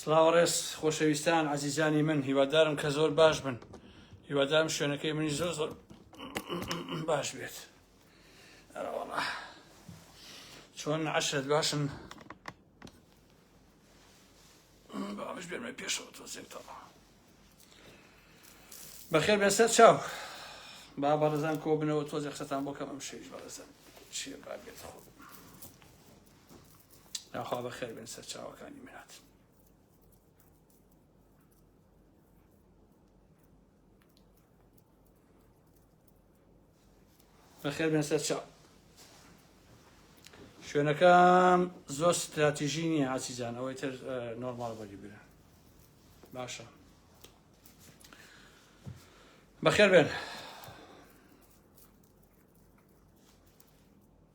سلاو ڕێز خۆشەویستان عزیزانی من هیوادارم کە زۆر باش بن هیوادارم شوێنەکەی منی زۆر زۆر باش بێت چۆن عشرت باشن باش بێمە پێشەوە تۆزێکەوە بەخێر بێسەر چاو با بەڕزان کۆ بنەوە تۆزێک قسەتان بۆ کەم ئەم شەویش بەڕزان چیە با بێت خۆ یاخوا بەخێر بێن سەرچاوەکانی میرات بەخێر بێن سەرچاو شوێنەکەم زۆر ستراتیژی نییە ئاچیزان ئەوەی تر نۆرمال بەری برە باشە بەخێر بێن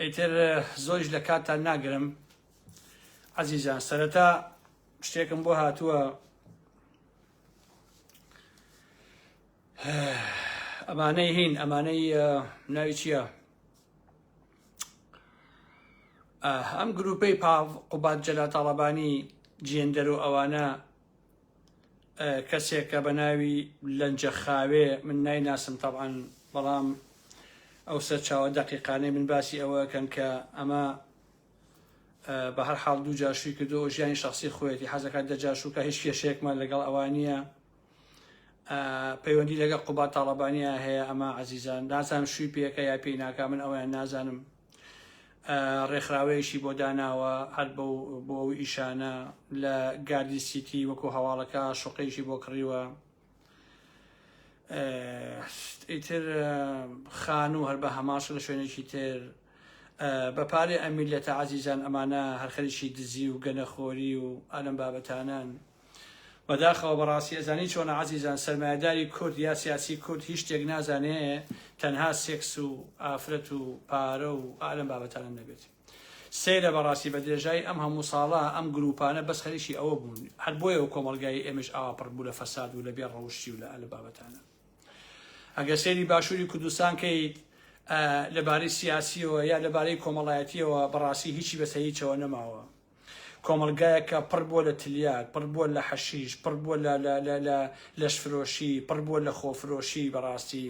ئیتر زۆریش لە کاتتان ناگرم عزیزان سەرەتا شتێکم بۆ هاتووە ئەمانەی هین ئەمانەی ناوی چییە؟ ئەم گروپەی پاڤ قوبات جەلاتاڵەبانی جێندەر و ئەوانە کەسێکە بە ناوی لەنجە خاوێ من نایناسم تەبعەن بەڵام ئەو سەرچاوە دەقیقانەی من باسی ئەوەکەن کە ئەمە بە هەر حاڵ دوو جاشوی کردو و ژیانی شخصی خۆیەتی حەزەکە دەجاشوکە هیچ کێشەیەکمان لەگەڵ ئەوانە پەیوەندی لەگە قوبات تاڵەبانیا هەیە ئەمە عزیزان نازانم شووی پێەکە یا پێی ناکە من ئەویان نازانم ڕێکخراوەیەکی بۆ داناوە هەر بەو بۆ ئەو ئیشانە لە گاردی سیتی وەکو هەواڵەکە شوقەیەکی بۆ کڕیوە ئیتر خان و هەر بە هەماش لە شوێنێکی تر بە پارێ ئەمیل لە تەعازیزان ئەمانە هەرخەریکی دزی و گەنەخۆری و ئالم بابەتانان بەداخەوە بەڕاستی ئەزانی چۆنە عەزیزان سەرمایەداری کورد یا سیاسی کورد هیچ شتێک نازانێ تەنها سێکس و ئافرەت و پارە و ئالەم بابەتانە نەبێت سەیرە بەڕاستی بە درێژایی ئەم هەموو ساڵە ئەم گروپانە بەس خەریکی ئەوە بوون هەر بۆیە و کۆمەلگای ئێمەش ئاوا پڕ بوو لە فەساد و لە بێ ڕەوشی و لە ئەلە بابەتانە ئەگەر سێری باشووری کوردستان کەیت لەبارەی سیاسیەوە یا لەبارەی کۆمەڵایەتیەوە بەڕاستی هیچی بەسەر هیچەوە نەماوە کۆمەڵگایەک کە پڕ بووە لە تلیاک، پڕ بووە لە حەشیش، پڕ بووە لە لە لە لە لەشفرۆشی، پڕ بووە لە خۆفرۆشی بەڕاستی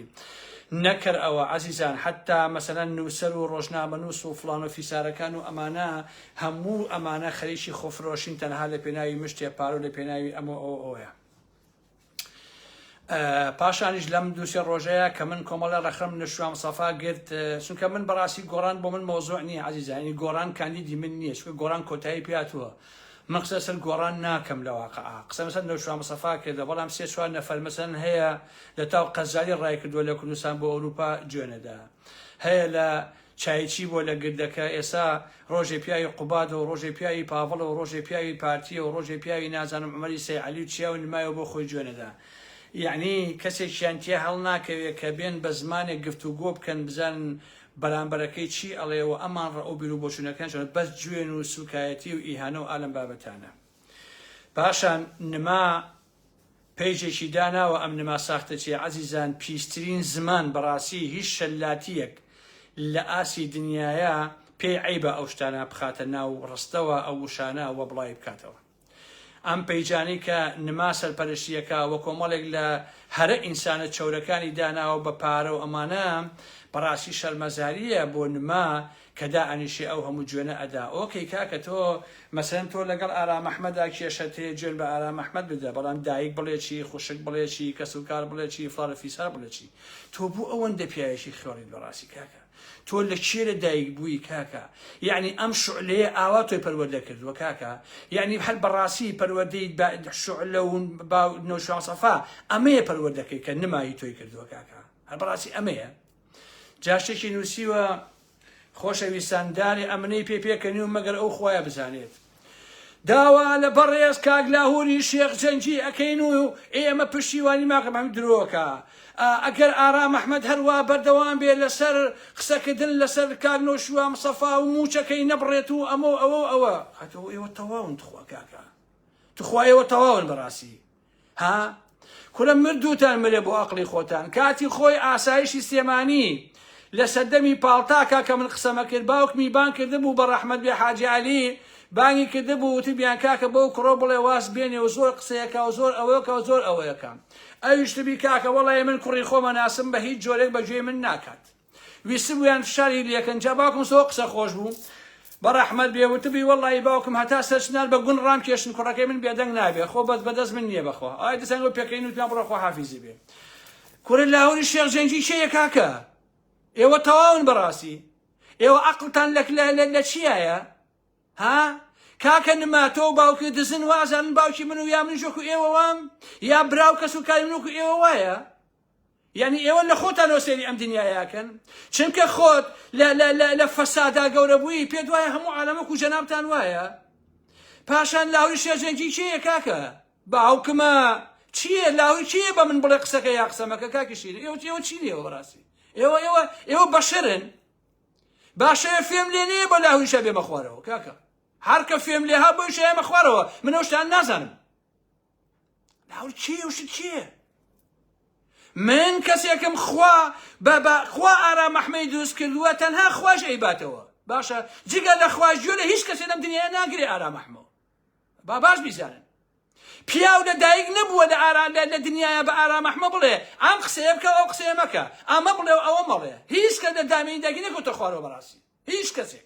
نەکەر ئەوە عەزیزان حەتتا مەسەلەن نووسەر و ڕۆژنامەنووس و فڵان و فیسارەکان و ئەمانە هەموو ئەمانە خەریکی خۆفرۆشین تەنها لە پێناوی مشتێ پارە و لە پێناوی ئەمە ئەوە ئەوەیە. پاشانیش لەم دووسێ ڕۆژەیە کە من کۆمەڵە ڕەخم نشوام سەفا گرت چونکە من بەڕاستی گۆڕان بۆ من مۆزۆع نییە عزیزانی گۆڕان کاندیدی من نییە چکە گۆڕان کۆتایی پیاتوە من قسە سەر گۆڕان ناکەم لە واقع قسە مەسەر نەوشام سەفا کردە بەڵام سێ چوار نەفەر مەسەن هەیە لە تاو قەزاری ڕای کردووە لە کوردستان بۆ ئەوروپا جوێنەدا هەیە لە چای چی بۆ لە گردەکە ئێسا ڕۆژێ پیاوی قوبادەو ڕۆژێ پیاوی پاڤڵەو ڕۆژێ پیاوی پارتیەو ڕۆژێ پیاوی نازانم عومەری سەی عەلی و چیاو نمایەو بۆ خۆی جوێ نەدا یەعنی کەسێکیان تیا هەڵ ناکەوێ کە بێن بە زمانێک گفت و گۆ بکەن بزانن بەرامبەرەکەی چی ئەڵێ و ئەمان ڕەئو بیرو بۆچونەکان چۆنە بەس جوێن و سوکایەتی و ئیهانەو ئالەم بابەتانە پاشان نما پەیجێکی داناوە ئەم نما ساختەچیە ئەزیزان پیسترین زمان بەڕاسی هیچ شەلاتیەک لە ئاسی دنیایە پێی عەیبە ئەو شتانە بخاتە ناو ڕستەوە ئەو وشانە وە بڵاوی بکاتەوە ئەم پەیجانەی کە نما سەرپەرشتیەکە وە کۆمەڵێک لە هەرە ئینسانە چەورەکانی داناوە بە پارەو ئەمانە بەڕاستی شەرمەزاریە بۆ نما کە دا ئەنیشێ ئەو هەموو جوێنە ئەدا. ئۆکەی کاکە تۆ مەسەلەن تۆ لەگەڵ ئارام ئەحمەدا کێشەت هەیە جوێن بە ئارام ئەحمەد بدە بەڵام دایک بڵێ چی خوشک بڵێ چی کەس و کار بڵێ چی فڵان و فیسار بڵێ چی تۆ بۆ ئەوەندە پیاوێکی خێڵیت بەڕاستی کاکە تۆ لە کێ لە دایک بووی کاکە یعنی ئەم شعلەیە ئاوا تۆی پەروەردە کردووە کاکە یعنی هەر بەڕاستی پەروەردەی شعلە و با نۆشوان سەفا ئەمەیە پەروەردەکەی کە نمایی تۆی کردووە کاکە هەر بەڕاستی ئەمەیە جاشێکی نووسیوە، خۆشەویستان دارێ ئەمنەی پێ پێکەنیوم مەگەر ئەو خوایە بزانێت. داوا لە بەڕێز کاک لاهوری شێخ جەنگی ئەکەین و ئێمە پشتیوانی ماکە مەحمود درۆکە ئەگەر ئارام ئەحمەد هەروا بەردەوام بێ لەسەر قسەکردن لەسەر کاک نەوشیروان مصەفا و موچەکەی نەبڕێت و ئەمە و ئەوە و ئەوە ئەتۆ ئێوە تەواون تخوا کاکە تخوا ئێوە تەواون بەڕاستی ها کورە مردوتان مرێ بۆ ئەقلی خۆتان کاتی خۆی ئاسایشی سلێمانی لە سەردەمی پاڵتاکە کە من قسەمە کرد باوکمی بان کرده بوو بە ڕەحمەت بێ حاجی علی بانگی کرده بوو وتبیان کاکە بەو کوڕۆ بڵێ واز بێنێ و زۆر قسەیەکە و زۆر ئەوەکە و زۆر ئەوەیەکە ئەویشتبی کاکە وەڵی من کوڕی خۆمە ناسم بە هیچ جۆرێک بەگوێی من ناکات ویستبویان فشاری لێکەن جا باوکم سۆ قسە خۆش بوو بە ڕەحمەت بێ وتبی وەڵی باوکم هەتا سەرچنار بە گون ڕام کێشن کوڕەکەی من بێدەنگ نابێ خۆ بەس بەدەست من نییە بەخوا ئای دەسان بۆ پێکەین وتیان بڕە خۆ حافیزی بێ کورە لاهوری شێخ جەنگی کێیە کاکە ئێوە تەواون بەڕاستی ئێوە عقلتان لەک لە لە لە چیایە ها کاکە نما تۆ باوکی دزن وازانن باوکی من و یا من ژۆک و ئێوە وام یا براو کەس و کاری منوک و ئێوە وایە یانی ئێوە لە خۆتان ەوە سەیری ئەم دنیایەکەن چونکە خۆت لە لە لە لە فەسادا گەورە بووی پێت وایە هەموو عالەمە کو جەنابتان وایە پاشان لاوی شێرجەنگی کێیە کاکە باوکمە چییە لاوی کێیە بە من بڵێ قسەکە یا قسەمەکە کاکی شیر ئێوە ئێوە چی لێوە بەڕاستی ئێوە ئێوە ئێوە بەشرن باشە فێم لێ نێ بە لاویشە بێمە خوارەوە کاکە هەرکە فێم لێ ها بۆیشە ئێمە خوارەوە منەوە شتان نازانم ناو چی و شت چییە من کەسێکم خوا بە بە خوا ئارام ئەحمەی دروست کردووە تەنها خواش ئەیباتەوە باشە جگە لە خواش گوێ لە هیچ کەسێ لەم دنیای ناگرێ ئارام ئەحمەوە با باش بیزانن پیاو لە دایک نەبووە لە ئارا لە لە دنیاە بە ئارام ئەحمە بڵێ ئەم قسەیە بکە ئەو قسەیە مەکە ئەمە بڵێ و ئەوە مەڵێ هیچ کە لە دامینی داگی نەکەوتە خوارەوە بەڕاستی هیچ کەسێک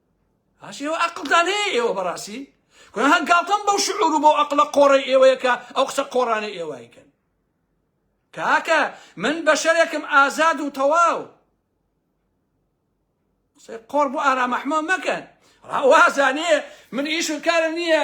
ئاش ئێوە ئەقلتان هەیە ئێوە بەڕاستی گوناها گاڵتەم بەو شعور و بەو ئەقلە قۆڕی ئێوەیە کە ئەو قسە قۆڕانەی ئێوایکەن کاکە من بەشەرێکم ئازاد و تەواو قسەی قۆڕ بۆ ئارام ئەحمە مەکەن ڕاوازانێ من ئیش و کارم نییە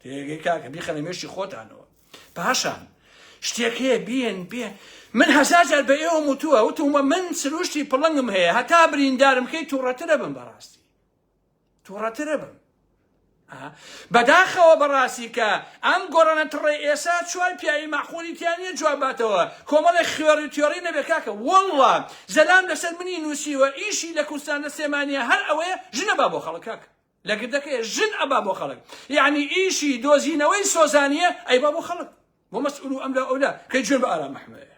تێگەی کاکە بیخەنە مێشی خۆتانەوە پاشان شتێک هەیە بێن بێ من هەزار جار بە ئێوە وتووە وتومە من سروشتی پڵنگم هەیە هەتا بریندارم کەی تووڕەترە بم بەڕاستی تووڕەترە بم بەداخەوە بەڕاستی کە ئەم گۆڕانە تڕێ ئێسا چوار پیاوی مەحقولی تیانە جواباتەوە کۆمەڵێک خوێڕی تێۆڕی نەبێ کاکە وەڵڵا زەلام لەسەر منی نووسیوە ئیشی لە کوردستان لە سێمانە هەر ئەوەیە ژنە با بۆ خەڵکاکە لە گردەکەی ژن ئەبا بۆ خەڵک یعنی ئیشی دۆزینەوەی سۆزانیە ئەی با بۆ خەڵک بۆ مەسئول و ئەملا ئەولا کەی جوێن بە ئارام محمەد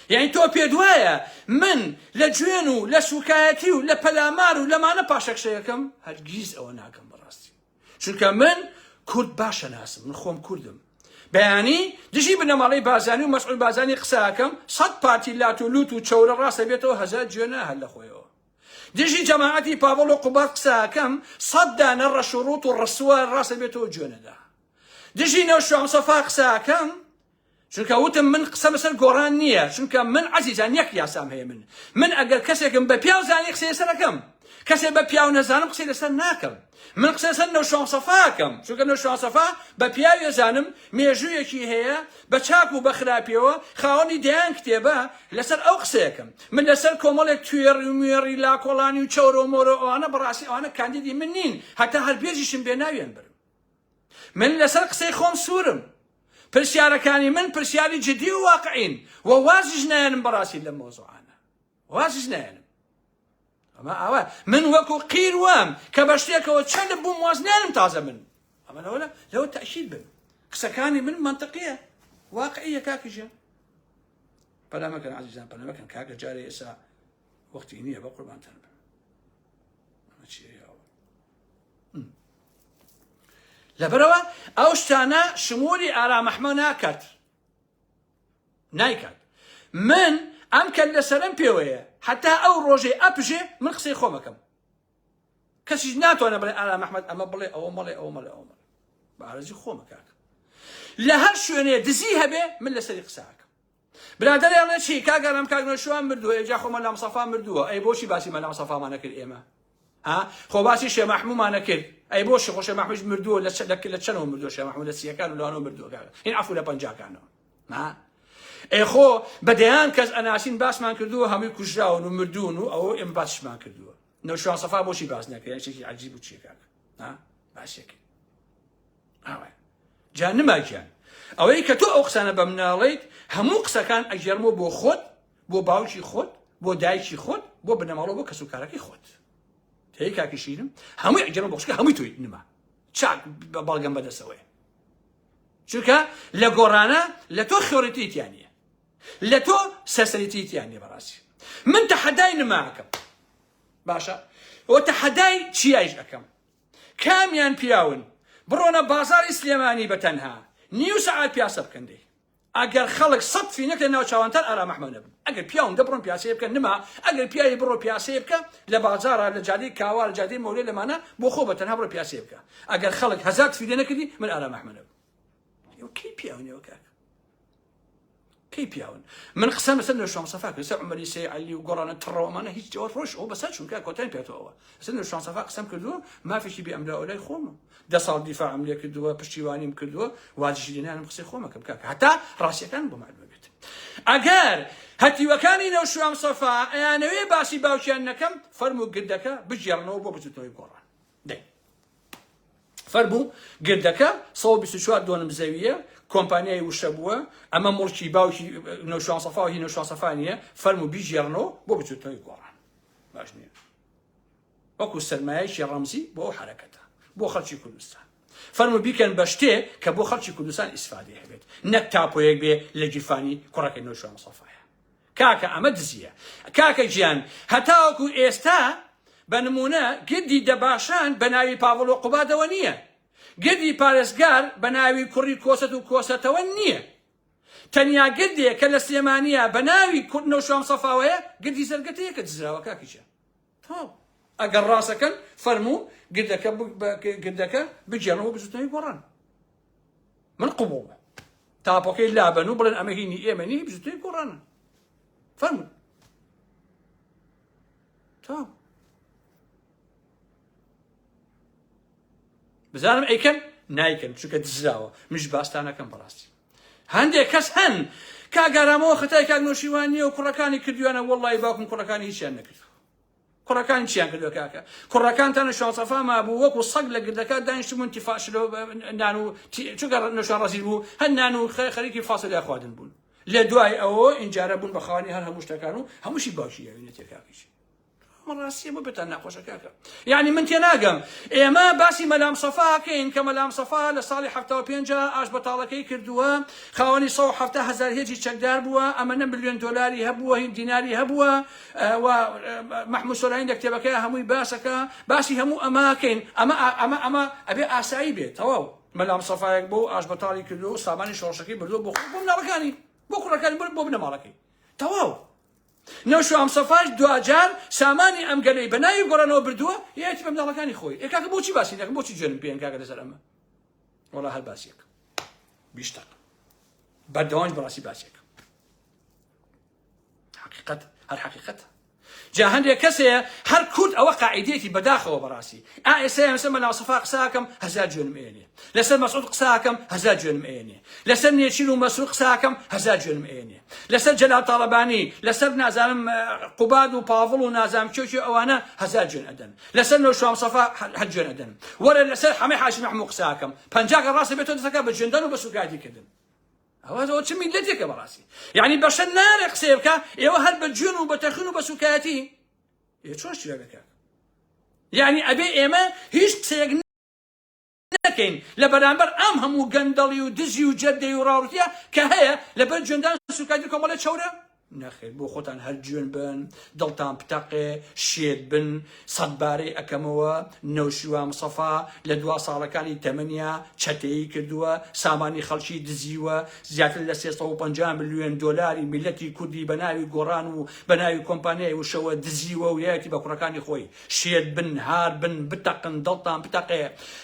یعنی تۆ پێ دوایە من لە جوێن و لە سوکایەتی و لە پەلامار و لەمانە پاشەکشەیەکەم هەرگیز ئەوە ناکەم بەڕاستی چونکە من کورد باشە ناسم من خۆم کوردم بەیانی دژی بنەماڵی بازانی و مەسعول بازانی قساکەم سەد پارتی لات و لوت و چەورە ڕاستە بێتەوە هەزار جوێنە هەر لە خۆیەوە دژی جەماعەتی پاڤڵ و قوباد قسەئەکەم سەد دانە ڕەش و ڕووت و ڕسوا ڕاستە بێتەوە جوێنەدا دژی نەوشام سەفا قسەئەکەم چونکە وتم من قسە بەسەر گۆڕان نییە چونکە من عەزیزان یەک یاسام هەیە من من ئەگەر کەسێکم بە پیاو زانی قسەی لەسەر ئەکەم کەسێ بە پیاو نەزانم قسەی لەسەر ناکەم من قسەی سەر نەوشیروان سەفا ئەکەم، چونکە نەوشیروان سەفا بە پیاوی ئەزانم مێژوویەکی هەیە بە چاک و بە خراپیەوە خاوەنی دەیان کتێبە لەسەر ئەو قسەی ئەکەم من لەسەر کۆمەڵێک توێڕی و موێڕی لاکۆڵانی و چەورە و مۆرە ئەوانە بەڕاستی ئەوانە کاندیدی من نین هەتا هەر بێژیشم بێ ناویان برم من لەسەر قسەی خۆم سوورم پرسیارەکانی من پرسیاری جدی و واقعین و وازیش نایەنم بەڕاستی لەم مۆزوعانە وازش نایەنم ئەمە ئاوا من وەکو قیر وام کە بە شتێکەوە چەند بووم واز نانم تازە من ئەمە لەوە لەوە تەشید بن قسەکانی من منطقیە واقعیە کاکیژە پەلامەکەن عزیزان پەلامەکەن کاکە جارێ ئێسا وەختی نییە بە قوربانتان بن لەبەرەوە ئەو شتانە شمولی ئارامەحمە ناکات نایکات من ئەم کەل لەسەرم پێوەیە حتا ئەو ڕۆژەی ئەپژێ من قسەی خۆمەکەم کەسیش ناتوانە بڵێ ئارا محمد ئەمە بڵێ ئەوە مەڵێ ئەو مەڵێ ئەو مەڵێ بەڕێزی خۆمەکات لە هەر شوێنێ دزی هەبێ من لەسەری قساکەم برادەرێ ئەڵێ چی کاگەرم کاگنەشوان مردووە ئێجا خۆمە لام سەفا مردووە ئەی بۆچی باسی مەلام سەفامانەکرد ئێمە ها خۆ باسی شێ مەحمومانە کرد ئەی بۆ شێ خۆشێ مەحموش مردووە لە لە لە چەنەوە مردووە شێ مەحمود لە سیەکان و لەوانەوە مردووە کاکە هین عفو لە پەنجاکانەوە ها ئەی خۆ بە دەیان کەس ئەناسین باسمان کردووە هەمووی کوژراون و مردوون و ئەوە ئێمە باسمان کردووە نەوشان سەفا بۆشی باس نەکرێن شتێکی عجیب و چیەکان ها باسێکی ئاوە جا نماگیان ئەوەی کە تۆ ئەو قسانە بە مناڵیت هەموو قسەکان ئەگەرمۆ بۆ خۆت بۆ باوکی خۆت بۆ دایکی خۆت بۆ بنەماڵە بۆ کەس و کارەکەی خۆت تێی کاکیشینم هەمووی ئەگەرە بەخشکە هەمووی تۆی نما چاک بە بەڵگەم بەدەسەوەی چونکە لە گۆڕانە لە تۆ خێۆریتیتیانە لە تۆ سەسەریتیتیانە بەڕاستی من تەحەدای نماکەم باشە ئەو تەحەدای چیایش ئەەکەم کامیان پیاون بڕۆنە بازاری سلێمانی بە تەنها نیو سەعات پیاسە بکەندەی ئەگەر خەڵک سەد فینک لە ناو چاوانتان ئارام ئەحمەد نەبن ئەگەر پیاون دەبڕن پیاسەیە بکەن نما ئەگەر پیاوی بڕۆ پیاسەیە بکە لە بازارە لە جادەی کاوا لە جادەی مۆلێ لەمانە بۆ خۆ بە تەنها بڕۆ پیاسەیە بکە ئەگەر خەڵک هەزار فیدە نەکردی من ئارام ئەحمەد نەبم کی پیاونەوە کاک کی پیاون من قسم سن لە شام صفا کردسە عمری سی علی و گۆڕانە تڕەوەمانە هیچ جواب ڕۆژ ئەو بەسە چونکە کۆتای پێتەوە سن لە شام صفا قسم کردو مافیشی بێ ئەملا ئەولای خۆمە دە ساڵ دیفاعم لێ کردووە پشتیوانیم کردووە واجشی لێنانم قسەی خۆمەکەم کاکە هەتا ڕاستیەکان بۆ معلومە بێت ئەگەر هەتیوەکانی نەوشوام سەفا ئەیانەوێ باسی باوکیان نەکەم فەرم و گردەکە بگێڕنەوە بۆ بزوتنەوەی گۆڕان دەی فەربوو گردەکە 124 دۆنم زەویە کۆمپانیای وشە بووە ئەمە مڵکی باوکی نەوشوان سەفا و هی نەوشوان سەفانە فەرم و بیگێڕنەوە بۆ بزوتنەوەی گۆڕان باش نیە وەکو سەرمایەیەکی ڕەمزی بۆ ئەو حەرەکەتە بۆ خەڵکی کوردستان فەرمو بیکەن بە شتێ کە بۆ خەڵکی کوردستان ئیسفادەی هەبێت نەک تاپۆیەک بێ لە گیرفانی کوڕەکەی نۆشوان مستەفایە کاکە ئەمە دزیە کاکە گیان هەتاوەکو ئێستا بە نمونە گردی دەباشان بە ناوی پاڤڵ و قوبادەوە نییە گردی پارێزگار بە ناوی کوڕی کۆسەت و کۆسەتەوە نییە تەنیا گردێ کە لە سلێمانیە بە ناوی کورد نەوشام سەفاوەیە گردی زەرگەتەیە کە دزراوە کاکیشە تۆپ. ئەگەر ڕاست ئەکەن فەرموو گردەکە گردەکە بگێڕنەوە بۆ بزوتنەوەی گۆڕان من قبوڵ تاپۆکەی لابەن و بڵێن ئەمە هینی ئێمە نی بزوتنەوەی گۆڕانە فەرموو تا بزانم ئەیکەن نایکەن چونکە دزراوە مش باستانەکەم بەڕاستی هەندێک کەس هەن کاک ئارام ئەوە خەتای کاک نەوشیروان نیە و کوڕەکانی کردویانە وەڵڵاهی باوکم کوڕەکانی هیچیان نەکردوە کوڕەکانی چیان کردوە کاکە کوڕەکانتان لە شوان سەفا مابوو وەکو سەگ لە گردەکە دانیشتبوون تیفا شلۆ نان و تی- چونکە ڕە- نەوشان ڕەزیل بوو هەر نان و خە- خەریکی فاسۆلیا خواردن بوون لە دوای ئەوە ئینجارە بوون بە خاوەنی هەر هەموو شتەکان و هەمووشی باوکی یاوی نەتێ کاکەیشی ئەمە ڕاستیە بۆ پێتان ناخۆشە کاکە یعنی من تێناگەم ئێمە باسی مەلام سەفاکەین کە مەلام سەفا لە ساڵی ه پێنج ئاش بەتاڵەکەی کردووە خاوەنی 1970 هزار هێجی چەکدار بووە ئەمەە ملیۆن دلاری هەبووە هین دیناری هەبووە و مححمود سۆلاین لە کتێبەکە هەمووی باسەکە باسی هەموو ئەماکەین ئەمە ئەمە ئەمە ئەبێ ئاسایی بێت تەواو مەلام سەفاەک بۆ ئاش بەتاڵی کردو سامانی شۆڕشەکەی بردو بۆ بۆ مناڵەکانی بۆ کوڕەکانی بۆ بنەماڵەکەی تەواو نەوشو هەمسەفاش دواجار سامانی ئەم گەلەی بە ناوی گۆڕانەوە بردووە یەتی بە منداڵەکانی خۆی ئێ کاکە بۆچی باسی دەکەم بۆچی جوێنم پێیەن کاکە لەسەر ئەمە وەڵا هەر باسیەک بیشتەق بەردەوام بەڕاستی باسیەک حقیقەت هەر حقیقەتە جا هەندێک کەسەیە هەر کورد ئەوە قاعدێتی بەداخەوە بەڕاستی ئا ئێستا هەمسە مە ناوسەفا قساکەم هەزار جوێنم ئێنێ لەسەر مەسعود قساکەم هەزار جوێنم ئەیەنێ لەسەر نێچیر و مەسرور قساکەم هەزار جوێنم ئەیەنێ لەسەر جەلال تاڵەبانی لەسەر نازانم قوباد و پاڤڵ و نازام کێکی ئەوانە هەزار جوێن ئەدەن لەسەر نەوشام سەفا هەر جوێن ئەدەن وەرە لەسەر حەمەی حاشی محمود قساکەم پەنجاکە ڕاستە بێتۆ دەسەکە بە جوێندان و بە سوکایەتی کردن ئەوە ئەوە چ میلەتێکە بەڕاستی یعنی بەشە نارێ قسەیە بکە ئێوە هەر بە جوێن و بە تەخن و بە سوکایەتی چۆن شتێکەکە یعنی ئەبێ ئێمە هیچ قسەیەک نەکەین لە بەرامبەر ئەم هەموو گەندەڵی و دزی و جەردەی و ڕاوڕتیە کە هەیە لەبەر جوێندان سوکایدی کۆمەڵێ چەورە نەخێر بۆ خۆتان هەر جوێن بن دڵتان پتەقێ شێت بن سەدبارەی ئەکەمەوە نەوشیوام سەفا لە دوا ساڵەکانی تەمەنیا چەتەیی کردووە سامانی خەڵکی دزیوە زیاتر لە 350 میلیۆن دۆلاری میلەتی کوردی بەناوی گۆڕان و بەناوی کۆمپانیای وشەوە دزیوە و یەتی بە کوڕەکانی خۆی شێت بن هار بن بتەقن دڵتان بتەقێ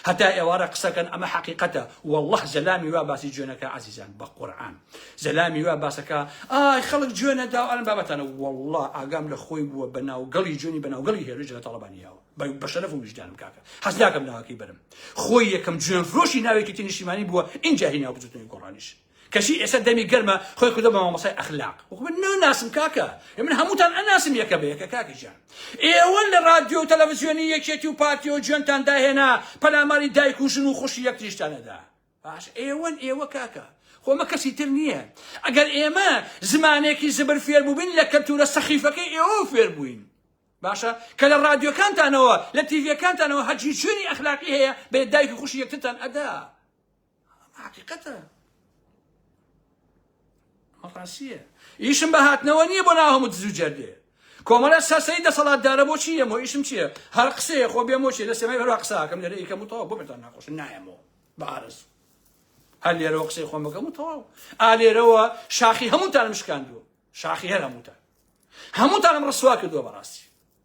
هەتا ئێوارە قسەکەن ئەمە حەقیقەتە واللە زەلامی وا باسی جوێنەکە عەزیزان بە قورعان زەلامی وا باسەکە ئای خەڵک جوێنە داو ئەلم بابەتانە واللە ئاگام لە خۆی بووە بە ناوگەڵی جوێنی بە ناوگەڵی هێرش لە تەڵەبانی یاوە بە شەرەف و ویژدانم کاکە حەز ناکەم ناوەکەی بەرم خۆی یەکەم جوێن فرۆشی ناوێکی تینیشیمانی بووە ئینجا هی ناو بزوتنەوەی گۆڕانیش کەچی ئێستا دەمی گەرمە خۆی کردوە بە مامۆستای ئەخلاق وەکو من ناناسم کاکە ئێ من هەمووتان ئەناسم یەکە بە یەکە کاکە جان ئێوە لە رادیۆ و تەلەڤزیۆنی یەکێتی و پارتی و جوێنتان داهێنا پەلاماری دایک و ژن و خوشی یەکتریشتان نەدا باش ئێوەن ئێوە کاکە خۆمە کەسی تر نییە ئەگەر ئێمە زمانێکی زبر فێر بووبین لە کەلتورە سەخیفەکەی ئێوە فێر بووین باشە کە لە رادیۆکانتانەوە لە تیڤەکانتانەوە هەرچی شوێنی ئەخلاقی هەیە بێ دایک و خوشی یەکترتان ئەدا ئەمە حەقیقەتە ئەمە ڕاستیە ئیشم بە هاتنەوە نییە بۆ ناو هەموو دزو جەردێ کۆمەڵە سەرسەری دەسەڵاتدارە بۆچی یەمۆ ئیشم چییە هەر قسەیە خۆ بێمۆچێ لە سێمای هەروا قساکەم لەرە ئیکەم و تەوا بۆ بێتان ناخۆش نایەمەوە بە ئارەز هەر لێرەوە قسەی خۆم بەکەم و تەواو ئالێرەوە شاخی هەمووتانم شکاندووە شاخی هەر هەمووتان هەمووتانم ڕسوا کردووە بەڕاستی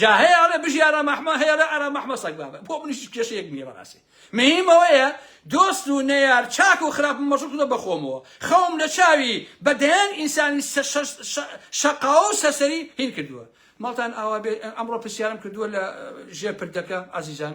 جا هەیە ئەڵێ بژی ئارام ئەحمە هەیە ئەڵێ ئارام ئەحمە سەگ بابە بۆ منیش کێشەیەک نییە بەڕاستی مهم ئەوەیە دۆست و نەیار چاک و خراپم مەشغول کردووە بەخۆمەوە خەوم لە چاوی بە دەیان ئینسانی سە- شە- شە- شەقاوە و سەرسەری هین کردووە ماڵتان ئاوا بێت ئەمڕۆ پرسیارم کردووە لە ژێر پردەکە عەزیزان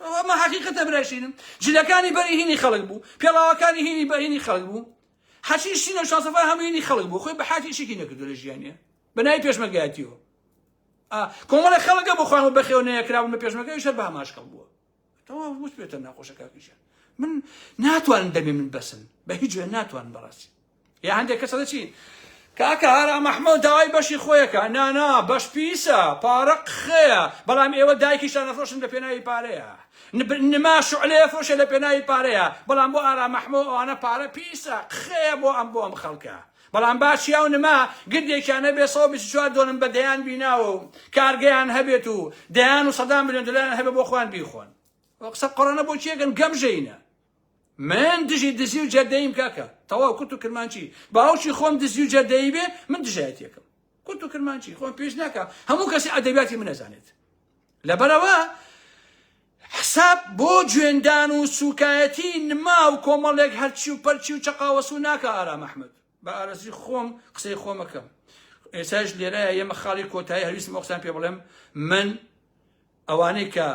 ئەمە حەقیقەتە برای شیرم جلەکانی بەری هینی خەڵک بوو پێڵاوەکانی هینی بە هینی خەڵک بوو حەچی شینە و شاسەفای هەموو هینی خەڵک بوو خۆی بە حاتی شێکی نەکردو لە ژیانە بەنای پێشمەگاتیەوە کۆمەڵی خەڵگە بۆ خۆیان بەخێو نەیەکرابوون بە پێشمەکەی شەر بە هەماشکەڵ بووە تەواو وس پێتە ناخۆشەکەکیشە من ناتوانم دەمێ من بەسن بە هیچ جوێن ناتوان بەڕاستی ئێ هەندێک کەس ئەڵێ چی کاکە هارا مەحمەو داوای بەشی خۆیەکە نا نا بەش پیسە پارە قخەیە بەڵام ئێوە دایکیشتان ئەفرۆشن لە پێناوی پارەیە نما شعلەیە فرۆشێ لە پێناوی پارەیە بەڵام بۆ ئارا مەحمەو ئەوانە پارە پیسە قخەیە بۆ ئەم بۆ ئەم خەڵکە بەڵام باشیا و نما گردێکیانە بێ 124 دۆنم بە دەیان بیناوە و کارگەیان هەبێت و دەیان و سەدان میلیۆن دلار هەبێ بۆ خوان بیخۆن قسە قڕەنە بۆ کێگەن گەمژەینە من دژی دزی و جەردەییم کاکە تەواو کورت و کرمانچی باوکی خۆم دزی و جەردەیی بێ من دژایەتیەکەم کورت و کرمانچی خۆم پێش ناکە هەموو کەسی ئەدەبیاتی من نەزانێت لەبەرەوە حساب بۆ جوێندان و سوکایەتی نما و کۆمەڵێک هەرچی و پەرچی و چەقاوەسو ناکە ئارام ئەحمد بە ئارەزوی خۆم قسەی خۆمەکەم ئێساش لێرایە یەمە خاڵی کۆتایی هەویستم ئۆقسان پێ بڵێم من ئەوانەی کە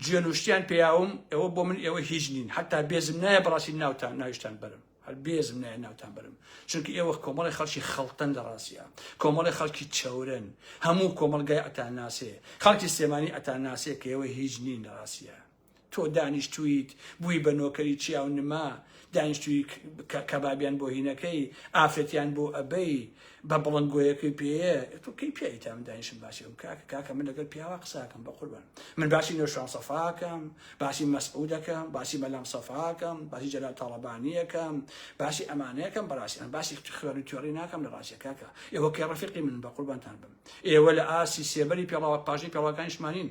جێنوشتیان پیاوم ئەوە بۆ من ئێوە هیچ نین حتا بێزم نایە بڕاستی ناوتان ناویشتان بەرم هەر بێزم نایە ناوتان بەرم چونکە ئێوە کۆمەڵی خەڵکی خەڵتەن لە ڕاستە کۆمەڵی خەڵکی چەورن هەموو کۆمەلگای ئەتان ناسێ خەڵکی سێمانی ئەتان ناسێ کە ئێوە هیچ نین لە ڕاستە تۆ دانیشتوویت بووی بە نۆکەری چیا و نما، دانیشتووی کە کەبابیان بۆ هینەکەی، ئافرەتیان بۆ ئەبەی، بە بڵندگۆیەکەی پێیە، تۆ کەی پیاوی تا من دانیشم باسی ئەوم کاکە، کاکە من لەگەل پیاوا قساکەم بەقوربان، من باسی نەوشیروان سەفاکەم، باسی مەسعودەکەم، باسی مەلا مسەفاکەم، باسی جەلال تاڵەبانیەکەم، باسی ئەمانەکەم بەراستی، ئەمن باسی خوێڕی و توێڕی ناکەم لە راستی کاکە، ئێوە کەی رەفیقی منن بەقوربانتان بم، ئێوە لە ئاستی سێبەری پێڵاوە پاشنەی پێڵاوەکانیشمانین،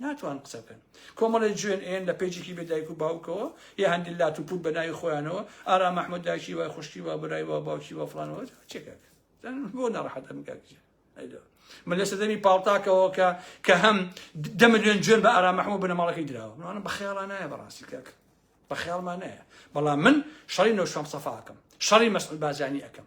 ناتوان قسە بکەن کۆمەڵی جوێن ئێن لە پێجێکی بێ دایک و باوکەوە یە هەندی لات و پوت بە ناوی خۆیانەوە ئارا مححمود داکی وای خوشکی وە برای وە باوکی وە فلانەوە چێکە بۆ ناڕحەتە مکاکە من لە سەدەمی پاڵتاکەەوە کە کە هەم دە میلیۆن جوێن بە ئارا مححمود بنەماڵەکەی دراوە منانە بە خێڵە نایە بەڕاستی کاک بە خێڵمان نایە بەڵام من شەڕی نەوشام سەفاکەم شەڕی مەسل بازانی ئەەکەم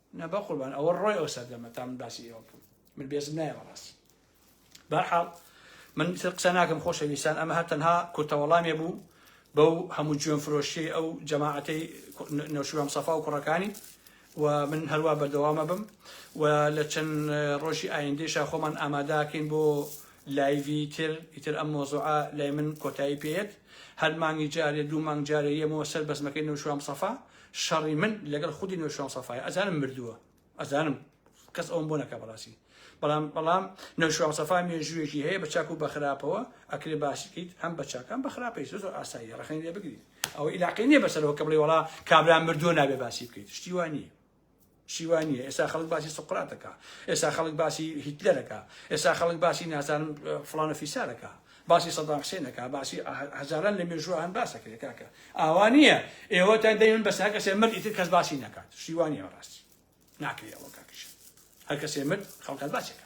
نا بەقوربان ئەوە ڕۆی ئەو سەردەمە تا من باسی ئێوە بکەم من بێزم نایە بەڕاستی بەرحاڵ من قسە ناکەم خۆشەویستان ئەمە هەر تەنها کورتەوەڵامێ بوو بەو هەموو جوێن فرۆشی ئەو جەماعەتەی نەوشیوام سەفا و کوڕەکانی و من هەروە بەردەوامە بم و لە چەند ڕۆژی ئایندێشا خۆمان ئاماداکەین بۆ لایڤی تر ئیتر ئەم مۆزوعە لای من کۆتایی پێت هەر مانگی جارێ دوو مانگ جارێ یەمەوە سەر بەزمەکەی نەوشوام سەفا شەڕی من لەگەڵ خودی نەوشیروان سەفایە ئەزانم مردووە ئەزانم کەس ئەوم بۆ نەکە بەڕاستی بەڵام بەڵام نەوشیروان سەفا مێژوویەکی هەیە بە چاک و بە خراپەوە ئەکرێ باسی بکەیت هەم بە چاکان بە خراپەی زۆر زۆر ئاسایی ڕەخنەی لێ بگریت ئەوە عیلاقەی نییە بەسەرەوە کە بڵێ وەڵا کابرا مردووە نابێ باسی بکەیت شتی وان نییە چی وا نییە ئێستا خەڵک باسی سقراتەکە ئێستا خەڵک باسی هیتلەرەکە ئێستا خەڵک باسی نازانم فلانە فیسارەکە باسی سەدان حسێنەکە باسی هەزاران لە مێژووە هەن باسەکرێت کاکە ئاوا نییە ئێوە تا دەیون بەسا کەسێ مرد ئیتر کەس باسی ناکات شیوانی ڕاستی ناکرێت ئەوە کاکیش هەر کەسێ مرد خەڵکات باسەکە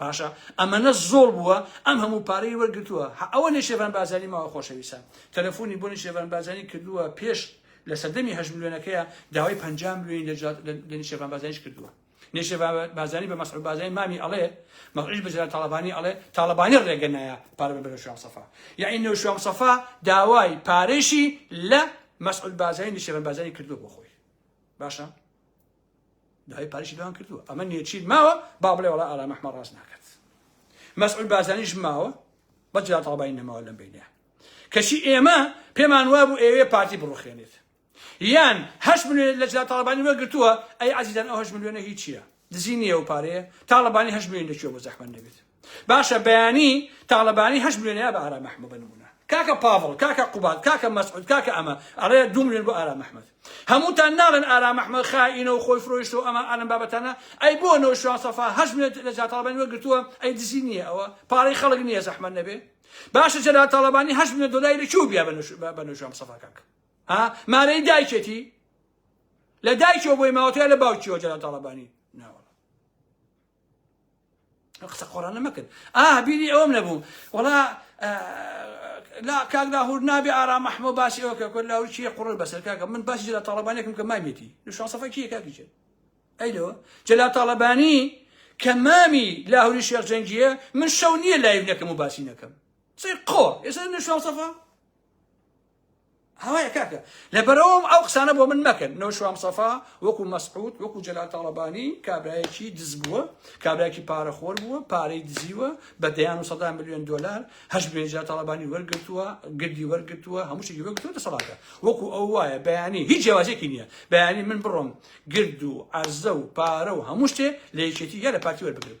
باشە ئەمەنە زۆڵ بووە ئەم هەموو پارەی وەرگتووە هە ئەوە نێشێڤان بازانی ماوە خۆشەویستان تەلەفۆنی بۆ نێشێڤان بازانی کردووە پێش لە سەردەمی هەشت ملیۆنەکەیە داوای پنج ملیۆنی لە نێشێڤان بازانیش کردووە نێشێڤان بازانی بە مەسعود بازانی مامی ئەڵێ مەڕیش بە جەلال تاڵەبانی ئەڵێ تاڵەبانی ڕێگە نایە پارە بە بەرە شوام سەفا یعنی نێو شوام سەفا داوای پارێشی لە مەسعود بازانی نێشێڤان بازانی کردووە بۆ خۆی باشە داوای پاریشی لەوان کردووە ئەمە نێچیر ماوە با بڵێ وڵا ئارام ئەحمە ڕاست ناکات مەسعود بازانیش ماوە بە جا تاڵبانی نەماوە لەم بینە کەچی ئێمە پێمان وا بوو ئێوێ پارتی بڕوخێنێت یان هەش ملیێن لە جا تاڵبانی وەگرتووە ئەی عزیزان ئەو هەش ملیۆنە هیچیە دزی نییە و پارەیە تاڵبانی هەش ملیێن دەچوە بۆ زەحمە نەبێت باشە بەیانی تاڵەبانی هەشت ملیۆنی ئەبا ئارام ئەحمە بە نمونە کاکە پاڤڵ کاکە قوباد کاکە مەسعود کاکە ئەمە ئەڵێ دوو ملیۆن بۆ ئارام ئەحمەد هەمووتان ناڵێن ئارام ئەحمەد خائینە و خۆی فرۆیشت و ئەمە ئەلم بابەتانە ئەی بۆ نەوشیروان سەفا هەشت ملیۆن لە جا تاڵەبانی وەرگرتووە ئەی دزی نییە ئەوە پارەی خەڵک نییە زەحمەت نەبێ باشە جەلال تاڵەبانی هەشت ملیۆن دۆلاری لە کوێ بیا بە نەوشیروان سەفا کاک ها مارەی دایکێتی لە دایکەوە بۆی ماوەتەیە لە باوکیەوە جەلال تاڵەبانی ناوە قسە قۆڕانە مەکرد ئا بیری ئەوم نەبوو وڵا لا کاک لاهور نابێ ئارا مەحمۆ باسی ئەوە کە کورد لاهور چیە قوڕ بەسەر کاکە من باسی جلا تاڵەبانێکم کە مامێتی شاسەفە کیە کاکیچێت ئەی لەوە جلا تاڵەبانی کە مامی لاهوری شێخ جەنگیە من شەو نییە لایب نەکەم و باسی نەکەم سەی قۆ ئێستا نشاسەفە هەوایە کاکە لەبەرەوەم ئەو قسانە بۆ من مەکەن نەوشوام سەفا وەکو مەسعود وەکو جەلا تاڵەبانی کابراایەکی دز بووە کابراایکی پارەخۆر بووە پارەی دزیوە بە دەیان و سەدا میلیۆن دلار هەش بێنجا تاڵەبانی وەرگتووە گردی وەرگتووە هەموو شتێکی وەرگتووە دەسەڵاتە وەکو ئەو وایە بەیانی هیچ جیاوازێکی نییە بەیانی من بڕۆم گرد و عرزە و پارە و هەموو شتێ لە یەکێتی یا لە پارتی وەربگرم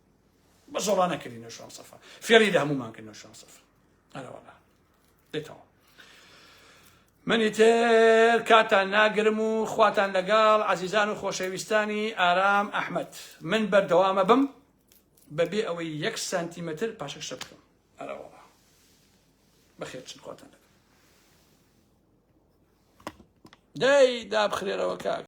بە زۆڵا نەکردی نەشوان سەفا فێری لە هەمومان کرد نەشوان سەفا ئەرەوەڵا دێتەوە منی تر کاتان ناگرم و خواتان لەگەڵ عزیزان و خۆشەویستانی ئارام ئەحمد من بەردەوامە بم بەبێ ئەوەی یەک سانتیمەتر پاشەک شە بکەم ئەرەوەڵا بەخێت چ خواتان دەکەم دای دابخرێرەوە کاک